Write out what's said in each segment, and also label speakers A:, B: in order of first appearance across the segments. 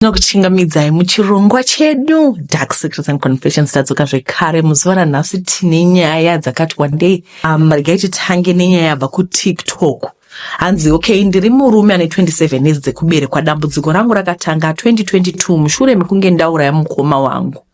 A: tinokuchingamidzai muchirongwa chedu dark secrets and confessions tadzoka zvekare muzuva ranhasi tine nyaya dzakati wandei um, regai titange nenyaya yabva kutiktok hanzi okay ndiri murume ane 27 years dzekuberekwa dambudziko rangu rakatanga 2022 mushure mekunge ndauraya mukoma wangu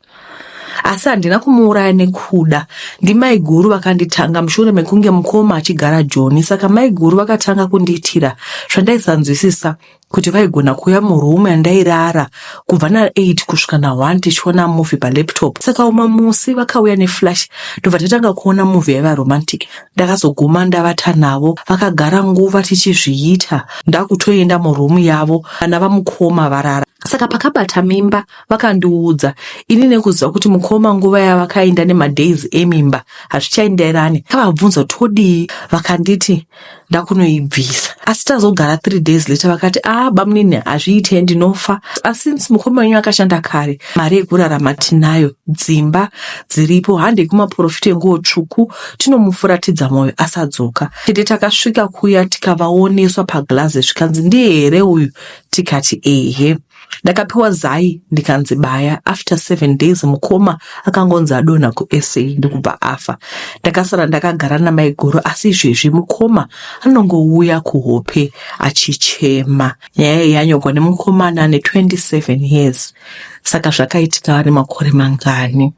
A: asi handina kumuuraya nekuda ndimaiguru vakanditanga mushure mekunge mukoma achigara joni saka maiguru vakatanga kundiitira zvandaisanzwisisa kuti vaigona kuuya murumu yandairara kubva na8 kusvika na1 tichiona movie palaptop saka umwe musi vakauya neflash ndobva tatanga kuona movie yaiva romantic ndakazoguma ndavata navo vakagara nguva tichizviita ndakutoenda murumu yavo vana vamukoma varara saka pakabata mimba vakandiudza ini nekuziva kuti mukoma nguva yavakainda nemadays emimba hazvichaenderani kavabvunza kuti odii vakanditi ndakunoibvisa asi tazogara three days later vakati a ah, bamunini hazviite ndinofa asi since mukoma wenyu akashanda kare mari yekurarama tinayo dzimba dziripo handei kumaporofita enguo tsvuku tinomufuratidza mwoyo asadzoka tete takasvika kuya tikavaoneswa paglaze zvikanzi ndiye here uyu tikati ehe Ndakapiwa zai ndikanzi baya. After seven days mukoma akangonzi adonha kuSA ndokubva afa. Ndakasara ndakagara namaiguru asi izvezvi mukoma anongouya kuhope achichema. Nyaya iyi yanyorwa nemukomana ane 27 years. Saka zvakaitika ane makore mangani?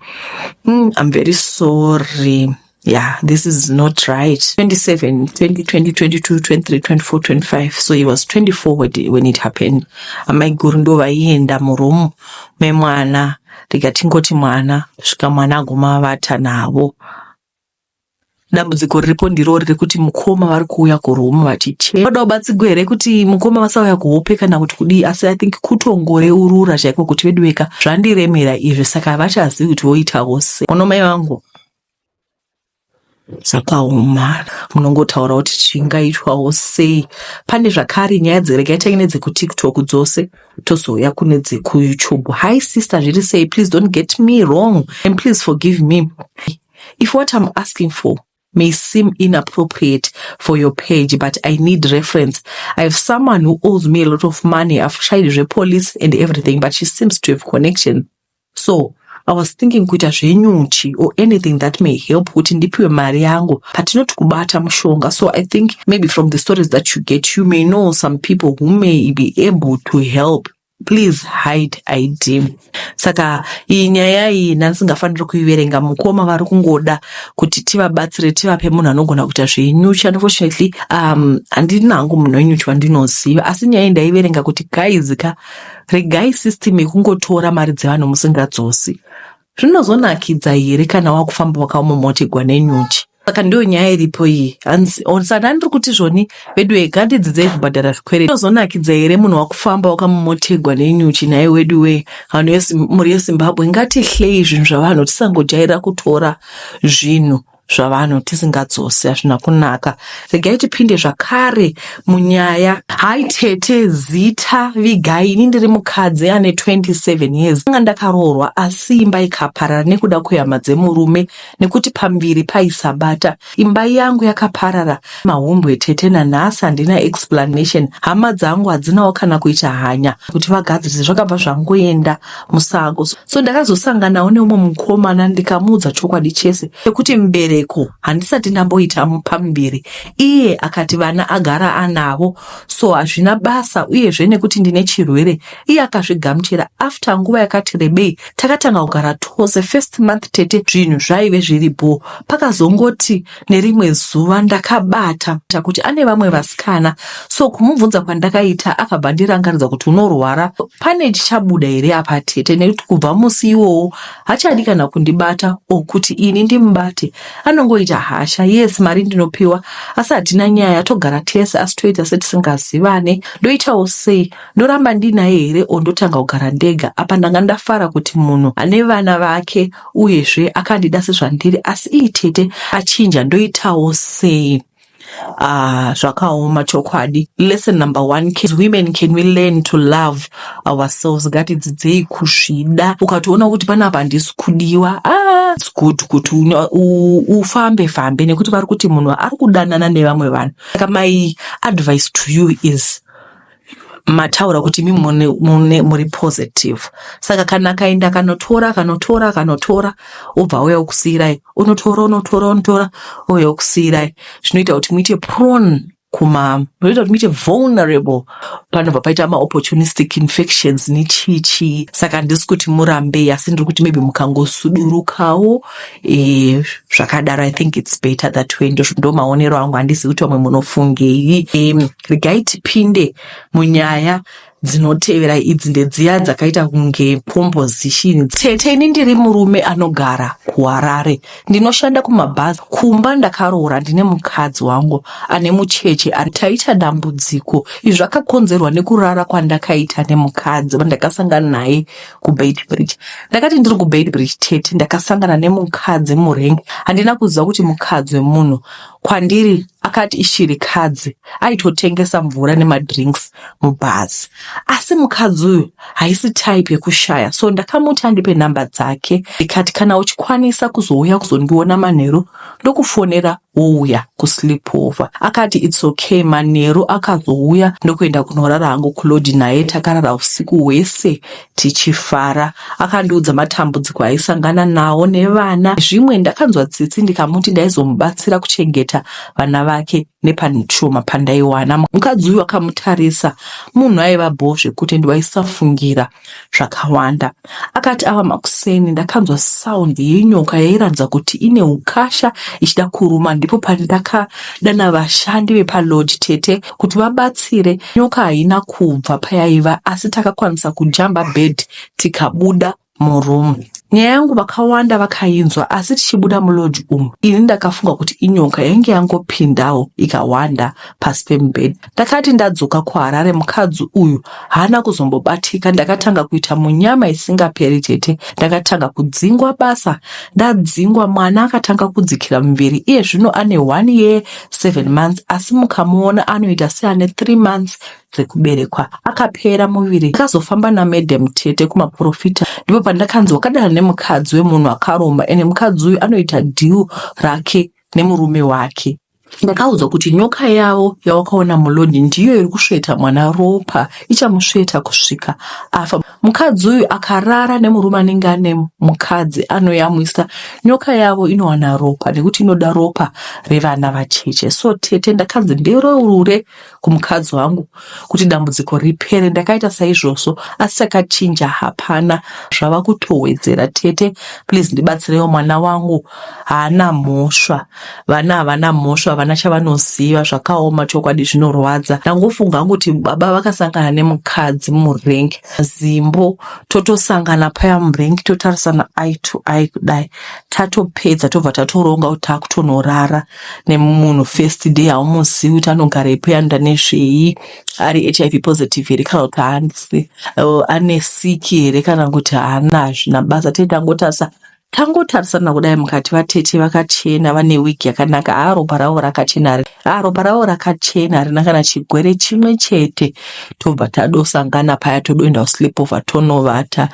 A: Mm, I'm very sorry. yeah this is not right 27 20 20 22 23 24 25 so he was 24 when it, when it happened amai guru ndo vaienda muroom memwana ndikatingoti mwana svika mwana aguma vata navo dambudziko riripo ndiro riri kuti mukoma vari kuuya kuroom vachichema vada kubatsigwa here kuti mukoma vasauya kuhope kana kuti kudii asi i think kutongoreurura chaiko kuti veduweka zvandiremera izvi saka havachazivi kuti voitavo se ono mai vangu zvakaoma munongotaura kuti chingaitwawo sei pane zvakare nyaya dzirega itai nedzekutiktok dzose tozouya kune dzekuyoutube hi sister zviri sei please don't get me wrong and please forgive me if what i'm asking for may seem inappropriate for your page but i need reference i have someone who owes me a lot of money i've tried zvepolice and everything but she seems to have connection So I was thinking kuita zvenyuchi or anything that may help kuti ndipiwe mari yangu but not kubata mushonga so I think maybe from the stories that you get you may know some people who may be able to help please hide id saka iyi nyaya iyi ndandisingafaniri kuiverenga mukoma vari kungoda kuti tivabatsire tivape munhu anogona kuita zvenyuchi unfortunately um handina hangu munhu wenyuchi wandinoziva asi nyaya iyi ndaiverenga kuti guys ka Regai system yekungotora mari dzevanhu musingadzosi. Zvinozonakidza here kana wakufamba wakamomotegwa nenyuchi? Saka ndiyo nyaya iripo iyi. Hanzi or saka ndiri kuti zvoni vedu wee ngandidzidzei kubhadhara zvikwereti. Zvinozonakidza here munhu wakufamba wakamomotegwa nenyuchi nhai wedu wee vanhu vesi- mhuri yeZimbabwe ngatihlei zvinhu zvavanhu tisangojaira kutora zvinhu zvavanhu tisingadzosi hazvina kunaka regai tipinde zvakare munyaya hai tete zita vigai ini ndiri mukadzi ane 27 years anga ndakaroorwa asi imba ikaparara nekuda kwehama dzemurume nekuti pambiri paisabata imba yangu yakaparara mahumbwe tete nanhasi handina explanation hama dzangu hadzinawo kana kuita hanya kuti vagadzirise zvakabva zvangoenda musango so ndakazosanganawo neumwe mukomana ndikamuudza chokwadi chese chekuti mbereko handisati ndamboita pamuviri iye akati vana agara anavo so hazvina basa uyezve nekuti ndine chirwere iye akazvigamuchira after nguva yakati rebei takatanga kugara tose first month tete zvinhu zvaive zviri bho pakazongoti Nerimwe zuva ndakabata kuti ane vamwe vasikana so kumubvunza kwandakaita akabva ndirangaridza kuti unorwara pane chichabuda here apa tete nekuti kubva musi iwowo hachadi kana kundibata o kuti ini ndimubate anongoita hasha yes mari ndinopiwa asi hatina nyaya togara tese asi toita setisingazivane ndoitawo sei ndoramba ndinaye here or ndotanga kugara ndega apa ndanga ndafara kuti munhu ane vana vake uyezve akandida sezvandiri asi iyi tete achinja ndoitawo sei Ah, zvakaoma chokwadi lesson number one as women can we learn to love ourselves ngatidzidzei kuzvida ukatoona kuti panapa handisi kudiwa ah, it's good kuti uno- u- ufambe fambe nekuti vari kuti munhu ari kudanana nevamwe vanhu saka my advice to you is mataura kuti mi muri positive saka kana akaenda akanotora akanotora akanotora obva auya okusiirai unotora unotora unotora ouya okusiirai zvinoita kuti muite prone kuma zvinoita kuti muite vulnerable panobva paita maopportunistic infections nechii chii saka handisi kuti murambei asi ndiri kuti maybe mukangosudurukawo e, zvakadaro i think its better that way ndo maonero angu handisi kuti vamwe munofungei e, regai tipinde munyaya dzinotevera idzi ndedziya dzakaita kunge composition tete ini ndiri murume anogara kuharare ndinoshanda kumabhazi kumba ndakaroora ndine mukadzi wangu ane mucheche taita dambudziko izvi zvakakonzerwa nekurara kwandakaita nemukadzi vandakasangana naye kubeitbridge ndakati ndiri kubeitbridge tete ndakasangana nemukadzi murengi handina kuziva kuti mukadzi wemunhu kwandiri akati ishirikadzi aitotengesa mvura nemadrinks mubhazi asi mukadzi uyu haisi type yekushaya so ndakamuti andipe nhamba dzake ndikati kana uchikwanisa kuzouya kuzondiona manheru ndokufonera wouya kusleepover akati its okay manheru akazouya ndokuenda kunorara hangu kulodhi naye takarara usiku hwese tichifara akandiudza matambudziko aisangana nawo nevana zvimwe ndakanzwa tsitsi ndikamuti ndaizomubatsira kuchengeta vana vake nepanshoma pandaiwana mukadzi uyu akamutarisa munhu aiva bho zvekuti ndiwaisafungira zvakawanda akati ava makuseni ndakanzwa sound yenyoka yairatidza kuti ine ukasha ichida kuruma ndipo pandakadana vashandi vepalodge tete kuti vabatsire nyoka haina kubva payaiva asi takakwanisa kujamba bed tikabuda muroom nyaya yangu vakawanda vakainzwa asi tichibuda mulodge umu ini ndakafunga kuti inyoka yainge yangopindawo ikawanda pasi pemubhedha ndakati ndadzoka kuharare mukadzi uyu haana kuzombobatika ndakatanga kuita munyama isingaperi tete ndakatanga kudzingwa basa ndadzingwa mwana akatanga kudzikira muviri iye zvino ane one year seven months asi mukamuona anoita seane three months dzekuberekwa akapera muviri akazofamba namadam tete kumaprofita ndipo pandakanzi wakadana nemukadzi wemunhu akaromba ende mukadzi uyu anoita deal rake nemurume wake ndakaudzwa kuti nyoka yavo yawakaona mulodi ndiyo iri kusveta mwana ropa ichamusveta kusvika afa Mukadzi uyu akarara nemurume anenge ane mukadzi anoyamwisa nyoka yavo inowana ropa nekuti inoda ropa revana vacheche. So tete ndakanzi ndireurure kumukadzi wangu kuti dambudziko ripere. Ndakaita saizvozvo asi takachinja hapana zvava kutowedzera. Tete please ndibatsirewo mwana wangu haana mhosva vana havana mhosva havana chavanoziva zvakaoma chokwadi zvinorwadza ndangofunga hangu kuti baba vakasangana nemukadzi murenk zimbo totosangana paya murenk totarisana i to i kudai tatopedza tobva tatoronga kuti takutonorara nemunhu first day haumuzivi kuti anogara ipo yanoda nezvei ari hiv positive here kana kuti haanisi ane siki here kana kuti haana hazvina basa tete angotarisa Tangotarisana kudai mukati vatete vakachena vane wig yakanaka haa ropa ravo rakachena hari haa ropa ravo rakachena harina kana chigwere chimwe chete tobva tadosangana paya todoenda kusleep over tonovata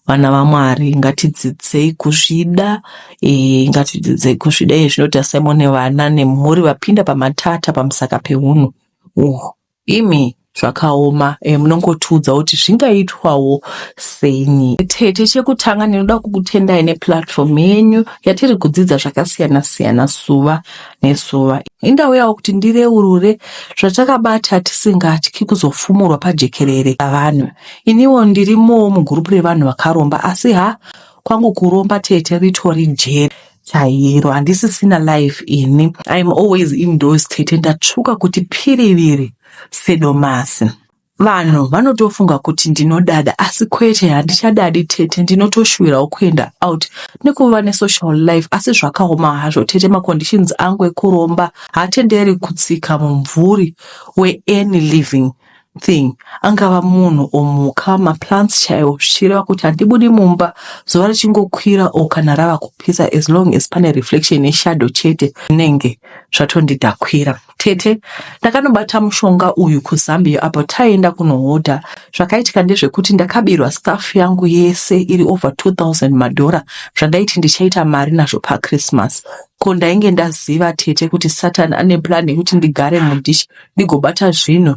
A: vana vamwari ngatidzidzei kuzvida e, ngatidzidzei kuzvida iye zvinoti asaimone vana nemhuri vapinda pamatata pamusaka pehunhu uhu Imi zvakaoma eh, munongotiudza kuti zvingaitwawo seini. Tete, chekutanga ndinoda kukutendai neplatform yenyu yatiri kudzidza zvakasiyana siyana suva nesuva. Indauyawo kuti ndireurure zvatakabata tisingatyi kuzofumurwa pajekerere pavanhu. Iniwo ndirimowo mugurupu revanhu vakaromba asi ha kwangu kuromba tete ritori jeri. chairo handisisina life ini im always indoors tete ndatsvuka kuti piriviri sedomasi vanhu vanotofunga kuti ndinodada asi kwete handichadadi tete ndinotoshuvirawo kuenda out nekuva nesocial life asi zvakaoma hazvo tete maconditions angu ekuromba hatenderi kutsika mumvuri weany living thing angava munhu or mhuka maplants chaiwo zvichireva kuti handibudi mumba zuva richingokwira or kana rava kupisa as long as pane reflection yeshadow chete zvinenge zvatondidhakwira tete ndakanobata mushonga uyu kuzambia apo taienda kunohodha zvakaitika ndezvekuti ndakabirwa staff yangu yese iri over 2000 madhora zvandaiti ndichaita mari nazvo pachristmas ko ndainge ndaziva tete kuti satan ane plan yekuti ndigare mudish ndigobata zvinhu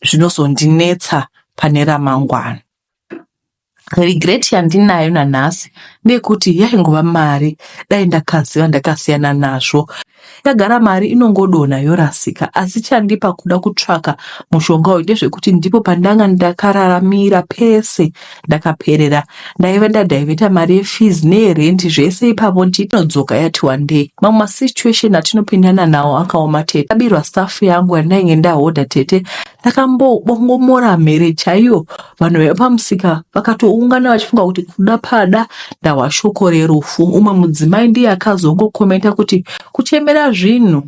A: zvinozondinetsa pane ramangwana. Regret yandinayo nanhasi ndeyekuti yaingova mari, dai ndakaziva ndakasiyana nazvo. Yagara mari inongodonha yorasika, asi chandipa kuda kutsvaka mushonga uyu ndezvekuti ndipo pandanga ndakararamira pese ndakaperera ndaive ndadhaivheta mari yefees neyerenti zvese ipapo ndinodzoka yati wandei mamwe masituation atinopindana nawo akaoma tete ndabirwa staff yangu yandainge ndahodha tete ndakambobongomora mhere chaiyo vanhu vaiva pamusika vakatoungana vachifunga kuti kuda pada ndahwa shoko rerufu umwe mudzimai ndiye akazongokomenta kuti kuchemera zvinhu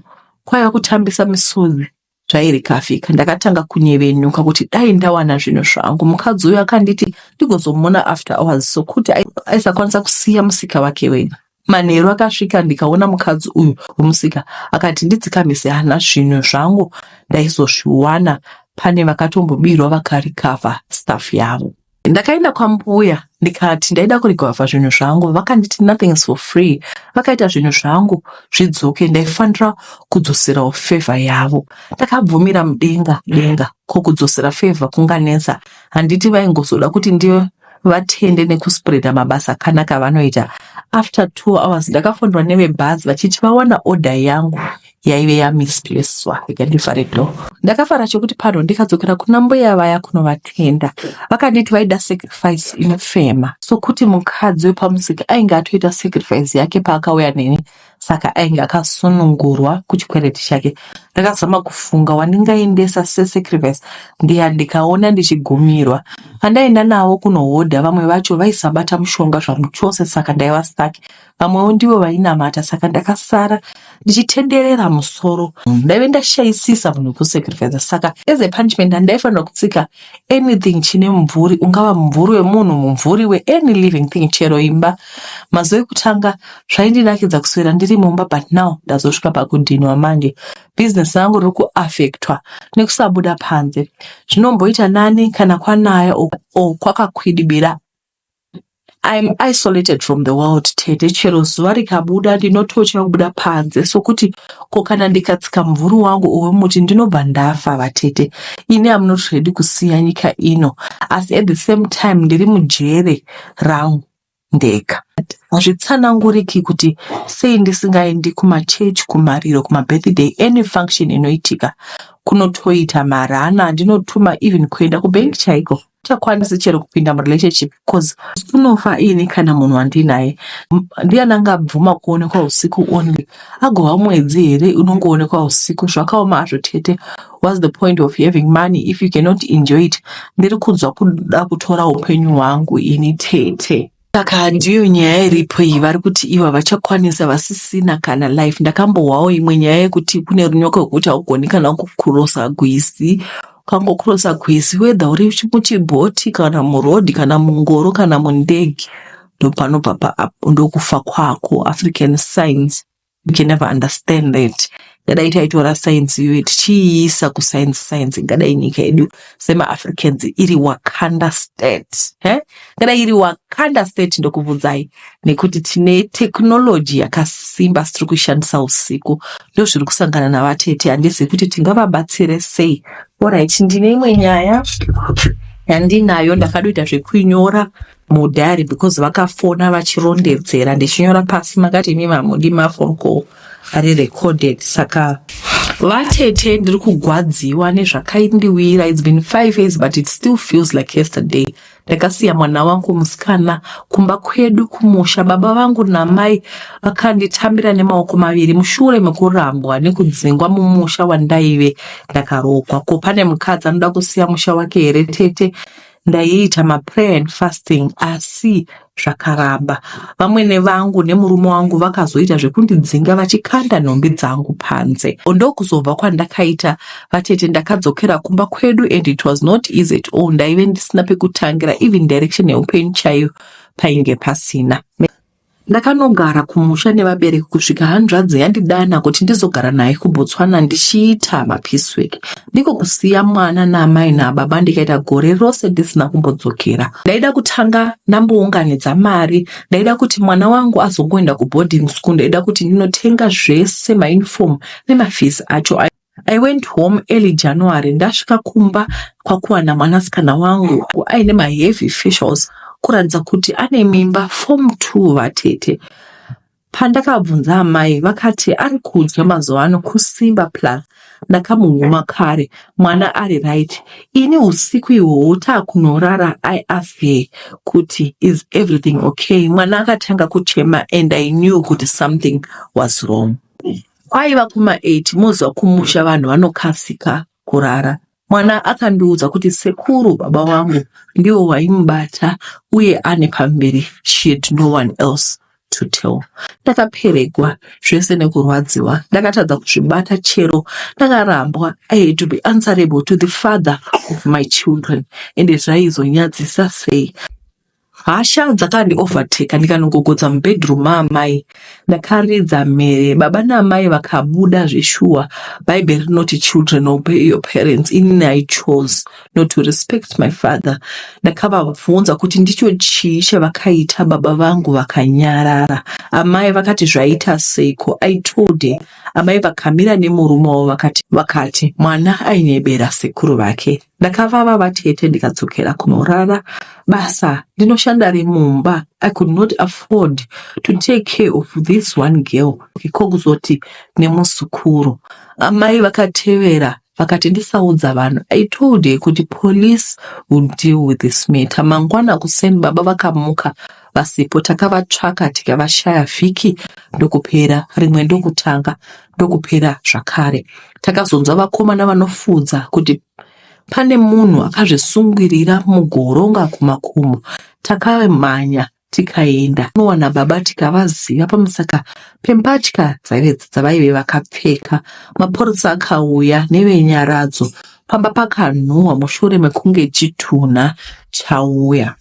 A: kwaiva kutambisa misodzi zvairikafika ndakatanga kunyevenuka kuti dai ndawana zvinhu zvangu mukadzi uyo akanditi ndigozomuona after hours sokuti aisakwanisa kusiya musika wake wega manheru akasvika ndikaona mukadzi uyu wemusika akati ndidzikamise hana zvinhu zvangu ndaizozviwana pane vakatombobirwa vakarikavha staff yavo Ndakaenda kwambuya ndikati ndaida kurigwavha zvinhu zvangu vakanditi nothing is for free vakaita zvinhu zvangu zvidzoke ndaifanira kudzoserawo favor yavo ndakabvumira mudenga denga ko kudzosera favor kunganetsa handiti vaingozoda kuti ndiyo vatende nekuspreada mabasa akanaka avanoita after two hours ndakafonderwa nevebhazi vachiti vawana order yangu yaive yamisiswa ikadifa redo ndakafara chokuti pano ndikadzokera kuna mbuya vaya kunovatenda vakanditi vaida sacrifice inofema sokuti mukadzi wepamusika ainge atoita sacrifice yake paakauya neni saka ainge akasunungurwa kuchikwereti chake ndakazama kufunga wandingaendesa sesacrifice ndiya ndikaona ndichigumirwa vandaenda navo kunohodha vamwe vacho vaisabata mushonga zvamuchose saka ndaiva staki vamwewo ndivo vainamata saka ndakasara ndichitenderera musoro ndaive ndashaisisa munhu kusacrifice saka as a punishment handaifanira kutsika anything chine mumvuri ungava mumvuri wemunhu mumvuri weany living thing chero imba mazuva ekutanga zvaindinakidza kuswera ndiri mumba but now ndazosvika pakudhinwa manje business rangu riri kuaffectwa nekusabuda panze zvinomboita nani kana kwanaya o kwakakwidibira I'm isolated from the world tete chero zuva rikabuda ndinotocha kubuda panze sokuti ko kana ndikatsika mumvuri wangu owemuti ndinobva ndafa vatete ini am not ready kusiya nyika ino asi at the same time ndiri mujere rangu ndega hazvitsananguriki kuti sei ndisingaendi kumachechi kumariro kumabirthday any function inoitika kunotoita marana andinotuma even kuenda kubank chaiko chakwanisi chero kupinda murelationship because unofa ini kana munhu wandinaye ndiyani angabvuma kuonekwa usiku only agova mwedzi here unongoonekwa usiku zvakaoma hazvo tete whats the point of having money if you cannot enjoy it ndiri kunzwa kuda kutora upenyu hwangu ini tete Saka ndiyo nyaya iripo iyi, vari kuti ivo havachakwanisa vasisina kana life. Ndakambohwawo imwe nyaya yekuti kune runyoko rwekuti haugoni kana kukurosa gwizi ukangokurosa gwizi whether uri muchibhoti kana muroad kana mungoro kana mundege ndopanobva paapo ndokufa kwako african science we can never understand that ngadai taitora science iyoyo tichiiisa kuscience science ngadai nyika yedu semaafricans iri wakanda state eh? ngadai iri wakanda state ndokubvunzai nekuti tine technology yakasimba sitiri kuishandisa usiku ndo zviri kusangana navatete handisi kuti tingavabatsire sei orit ndine imwe nyaya yandinayo ndakadoita zvekuinyora mudhari because vakafona vachirondedzera ndichinyora pasi makati imi mamundi mafon call ari recorded saka vatete ndiri kugwadziwa nezvakaindiwira its been five years but it still feels like yesterday ndakasiya mwana wangu musikana kumba kwedu kumusha baba vangu namai vakanditambira nemaoko maviri mushure mekurambwa nekudzingwa mumusha wandaive ndakarokwa ko pane mukadzi anoda kusiya musha wake here tete Ndaiita maprayer and fasting asi zvakaramba. Vamwene vangu nemurume wangu vakazoita zvekundidzinga vachikanda nhumbi dzangu panze. Ndokuzobva kwandakaita vatete ndakadzokera kumba kwedu and it was not easy at all. Ndaive ndisina pekutangira even direction yeupenyu chaiyo painge pasina. Ndakanogara kumusha nevabereki kusvika hanzvadzi yandidana kuti ndizogara naye kuBotswana ndichiita mapiswek ndiko kusiya mwana naamai nababa ndikaita gore rose ndisina kumbodzokera. Ndaida kutanga ndambounganidza mari, ndaida kuti mwana wangu azongoenda kuboarding school, ndaida kuti ndinotenga zvese mauniform nemafees acho. I went home early January ndasvika kumba kwakuwana mwanasikana wangu aine maheavy facials kuratidza kuti ane mimba form two vatete. Pandakabvunza amai vakati ari kudya mazuva ano kusimba plus ndakamuhuma kare mwana ari right. Ini usiku ihwohwo taakunorara I asked her kuti is everything okay mwana akatanga kuchema and I knew kuti something was wrong. Kwaiva kuma 8 moziva kumusha vanhu vanokasika kurara. Mwana akandiudza kuti sekuru baba wangu ndiwo waimubata uye ane pamberi she had no one else to tell. Ndakaperegwa zvese nekurwadziwa ndakatadza kuzvibata chero ndakarambwa I had to be answerable to the father of my children ende zvaizonyadzisa sei. Hasha dzakandi overtaker ndikanogogodza mubedroom maamai ndakaridza mhere baba naamai vakabuda zveshuwa bhaibheri rinoti children obey your parents inini i chose not to respect my father ndakavabvunza kuti ndicho chii chavakaita baba vangu vakanyarara amai vakati zvaita seiko i told her amai vakamira nemurume wavo vakati vakati mwana ainyebera sekuru vake Ndakavava vatete ndikadzokera kunorara basa ndinoshanda remumba. I could not afford to take care of this one girl ko kuzoti nemuzukuru. Amai vakatevera vakati ndisaudza vanhu. I told her kuti police will deal with this matter. Mangwana kuseni baba vakamuka vasipo takavatsvaka tikavashaya vhiki ndokupera rimwe ndokutanga ndokupera zvakare takazonzwa vakomana vanofuudza kuti pane munhu akazvisungirira mugoronga kumakomo takamhanya tikaenda nowana baba tikavaziva pamusaka pembatya dzaive dzavaive vakapfeka mapurisa akauya nevenyaradzo pamba pakanhuhwa mushure mekunge chitunha chauya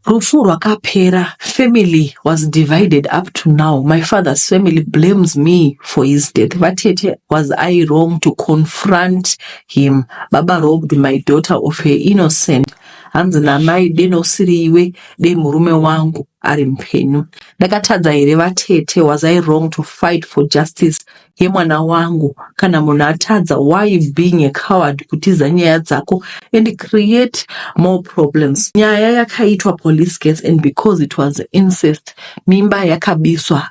A: Rufu rwakapera, family was divided up to now. My father's family blames me for his death. Vatete, was I wrong to confront him? Baba robbed my daughter of her innocent. Hanzi namai deno usiri iwe, dei murume wangu ari mupenyu. Ndakatadza here vatete? Was I wrong to fight for justice yemwana wangu kana munhu atadza why you being a coward kutiza nyaya dzako and create more problems nyaya yakaitwa police case and because it was incest mimba yakabiswa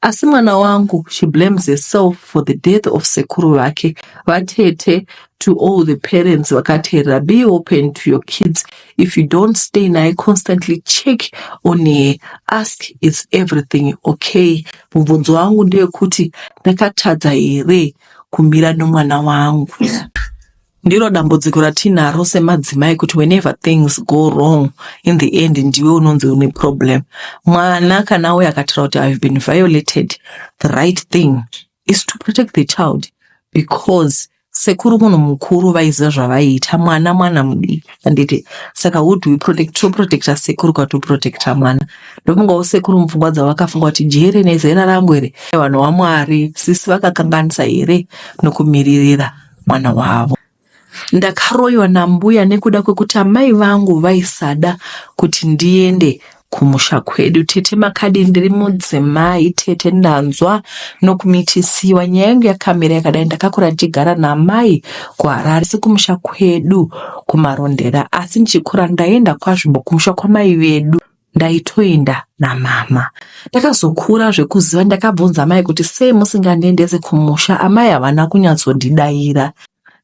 A: asi mwana wangu she blames herself for the death of sekuru vake vatete to all the parents vakateerera be open to your kids if you don't stay naye constantly check on her ask is everything okay mubvunzo wangu ndewekuti ndakatadza here kumira nomwana wangu ndiro dambudziko ratinaro semadzimai kuti whenever things go wrong in the end ndiwe unonzi une problem mwana kana uye akatira kuti ihave been violated the right thing is to protect the child because sekuru munhu mukuru vaiziva zvavaiita mwana mwana mudiki handiti saka who do we protect toprotecta sekuru kwatoprotecta mwana ndofungawo sekuru mupfungwa dzavo vakafunga kuti jere nezera rangu here vanhu vamwari sisi vakakanganisa here nokumiririra mwana wavo ndakaroyiwa nambuya nekuda kwekuti amai vangu vaisada kuti ndiende kumusha kwedu tete makadii ndiri mudzimai tete ndanzwa nokumitisiwa nyaya yangu yakamira yakadai ndakakura ndichigara namai kuharare sekumusha kwedu kumarondera asi ndichikura ndaienda kwazvimbo kumusha kwamai vedu ndaitoenda namama ndakazokura zvekuziva ndakabvunza amai kuti sei musingandiendese kumusha amai havana kunyatsondidaira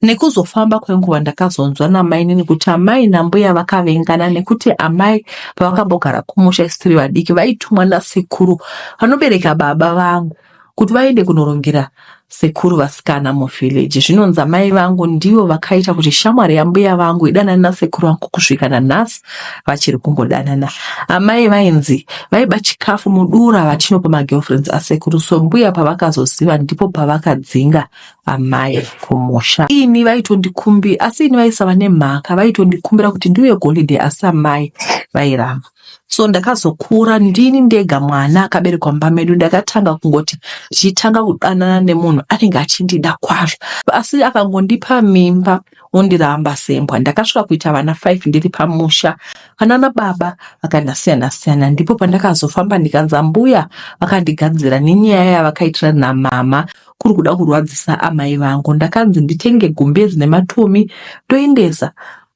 A: Nekuzofamba kwenguva ndakazonzwa namainini kuti amai nambuya vakavengana nekuti amai pavakambogara kumusha isu tiri vadiki vaitumwa nasekuru vanobereka baba vangu kuti vaende kunorongera sekuru vasikana muvhileji. Zvinonzi amai vangu ndivo vakaita kuti shamwari yambuya vangu idanane nasekuru vangu kusvika nanhasi vachiri kungodanana. Amai vainzi vaiba chikafu mudura vachinopa magirlfriends asekuru so mbuya pavakazoziva ndipo pavakadzinga amai kumusha ini vaitondikumbi asi ini vaisava nemhaka vaitondikumbira kuti ndiuye golide asi amai vairamba so ndakazokura ndini ndega mwana akaberekwa mumba medu ndakatanga kungoti ndichitanga kudanana nemunhu anenge achindida kwazvo asi akangondipa mimba ondiramba sembwa ndakasvika kuita vana five ndiri pamusha vanana baba vakandasiyana siyana ndipo pandakazofamba ndikanza mbuya vakandigadzira nenyaya yavakaitira namama kuri kuda kurwadzisa amai vangu ndakanzi nditenge gumbezi nematumi ndoendesa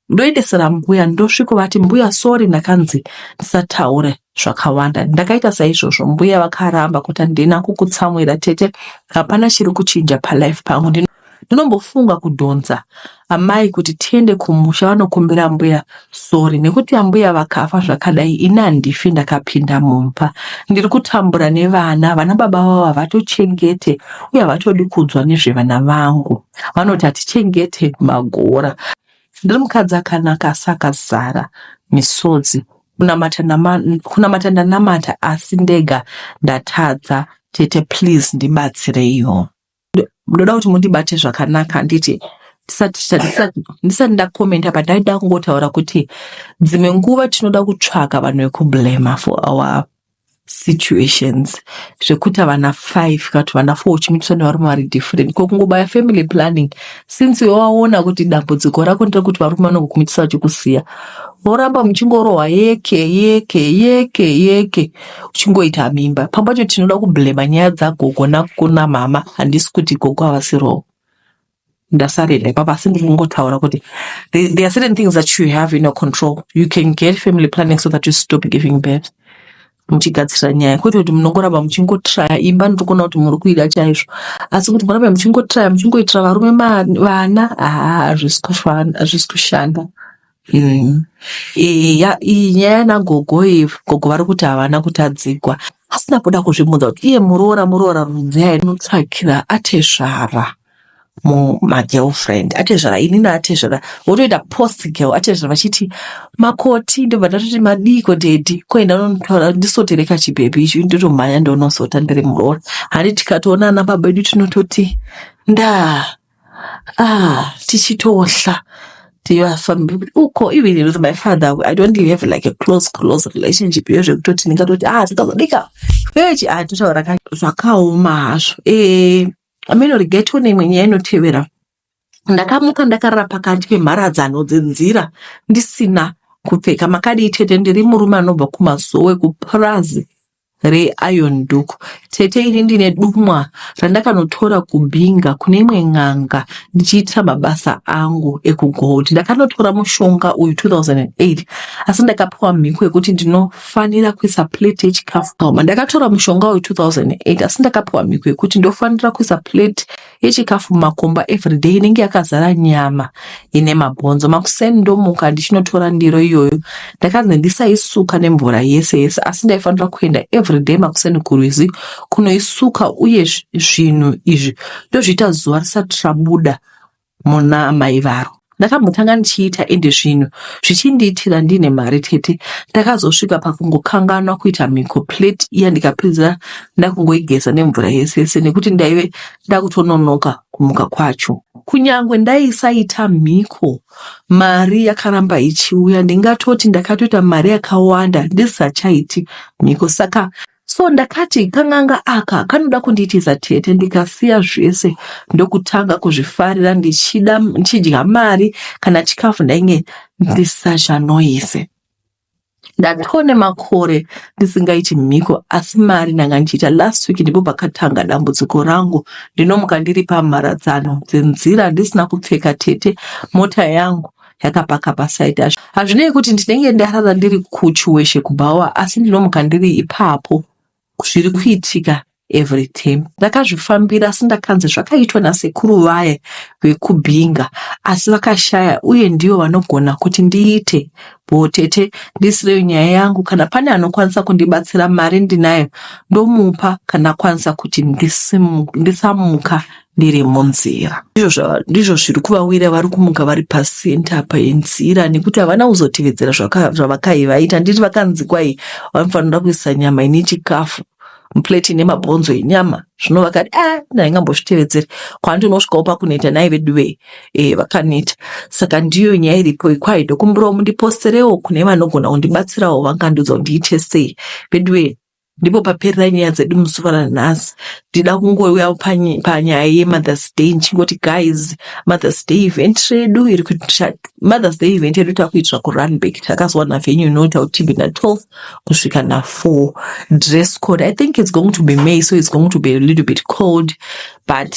A: ndoendesera mbuya ndosviko vati mbuya sori ndakanzi ndisataure zvakawanda ndakaita saizvozvo mbuya vakaramba kuti handina kukutsamwira tete hapana chiri kuchinja palife pangu ndinombofunga kudhonza amai kuti tiende kumusha vanokumbira ambuya sorry nekuti ambuya vakafa zvakadai ini handifi ndakapinda mumba ndiri kutambura nevana vana baba vavo havatochengete uye havatodi kudzwa nezvevana vangu vanoti hatichengete magora ndiri mukadzi akanaka asi akazara misodzi kunamata nama- kunamata ndanamata asi ndega ndatadza tete please ndibatsireiwo ndoda kuti mundibate zvakanaka handiti ndisati ndakomenta but ndaida kungotaura kuti dzimwe nguva tinoda kutsvaga vanhu vekublema for our situations zvekuti havana five kana kuti vana four uchimitiswa nevarume vari different ko kungobaya family planning since iwe waona kuti dambudziko rako nderekuti varume vanokukumitisa vachikusiya voramba muchingorohwa yeke yeke yeke yeke uchingoita mimba pamba cho tinoda kublema nyaya dzagogo nakuna mama handisi kuti gogo havasirowo ndasarira ipapa asi ndiri kungotaura kuti there are certain things that you have in your control you can get family planning so that you stop giving birth muchigadzirira nyaya kwete kuti munongoramba muchingotraya imba ndiri kuona kuti muri kuida chaizvo asi kuti murambe muchingotraya muchingoitira varume vana haa hazvisi kushanda Mm. Eya iyi nyaya yanagogo iyi gogo vari kuti havana kutadzigwa asina kuda kuzvibvunza kuti iye muroora muroora rudzi ainotsvakira atezvara mumagirlfriend atezvara inini atezvara votoita post girl atezvara vachiti makoti ndobva ndatoti madii kodhedhi koenda unotaura ndisotere kachibhebhi icho ndotomhanya ndoonosota ndiri muroora handi tikatoona ana baba edu tinototi ndaa ah tichitohla tivafambi uko even with my father i don't even have like a close close relationship iyo zvekutoti ndingatoti ah tikazodika vechi ah totaura ka zvakaoma hazvo eh ameno rigetwo neimwe nyaya inotevera ndakamuka ndakarara pakati pemharadzano dzenzira ndisina kupfeka makadii tete ndiri murume anobva kumazowe kupurazi re iron duku tete ini ndine dumwa randakanotora kubinga kune imwe n'anga ndichiitira mabasa angu ekugold ndakanotora mushonga uyu 2008 asi ndakapiwa mhiko yekuti ndinofanira kuisa plate yechikafu ndakatora mushonga uyu 2008 asi ndakapiwa mhiko yekuti ndofanira kuisa plate yechikafu mumakomba everyday inenge yakazara nyama ine mabhonzo makuseni ndomuka ndichinotora ndiro iyoyo ndakanzi ndisaisuka nemvura yese yese asi ndaifanira kuenda everyday makuseni kurwizi kunoisuka uye zvinhu izvi ndozviita zuva risati rabuda muna mai varo Ndakambotanga ndichiita ende zvinhu zvichindiitira ndine mari tete ndakazosvika pakungokanganwa kuita mhiko plate iya ndikapedza ndakungoigeza nemvura yese yese nekuti ndaive ndakutononoka kumuka kwacho. Kunyangwe ndaisaita mhiko mari yakaramba ichiuya ndingatoti ndakatoita mari yakawanda ndisisachaiti mhiko saka so ndakati kan'anga aka kanoda kundiitiza tete ndikasiya zvese ndokutanga kuzvifarira ndichida ndichidya mari kana chikafu ndainge ndisachanoise ndatone makore ndisingaiti mhiko asi mari ndanga ndichiita last week ndipo pakatanga dambudziko rangu ndinomuka ndiri pamharadzano dzenzira ndisina kupfeka tete mota yangu yakapaka pasaiti acho hazvinei kuti ndinenge ndarara ndiri kuchiweshe kubhawa asi ndinomuka ndiri ipapo zviri kuitika every time ndakazvifambira asi ndakanzi zvakaitwa nasekuru vaye vekubhinga asi vakashaya uye ndivo vanogona kuti ndiite bho tete ndisireyo nyaya yangu kana pane anokwanisa kundibatsira mari ndinayo ndomupa kana akwanisa kuti ndisamuka ndiri munzira ndizvo zviri kuvawira vari kumuka vari pasenta apa yenzira nekuti havana kuzotevedzera zvavakai vaita nditi vakanzi kwai vanofanira kuisa nyama ine chikafu mupleti ine mabhonzo enyama zvino vakati a ah, ndaingambozvitevedzeri kwandinosvikawo pakuneta nai veduve e eh, vakaneta saka ndiyo nyaya iripo ikwai ndokumbirawo mundiposterewo kune vanogona kundibatsirawo vangandiudza kuti ndiite sei veduve ndipo paperera nyaya dzedu musi ranhasi ndida kungouya panyaya yemothers day ndichingoti guys mothers day event redu iri mothers day event yedu takuitira kurunback takazowa navenue inota kuti be na12 kusvika na4 dress code i think its going to be may so its going to be a little bit cold but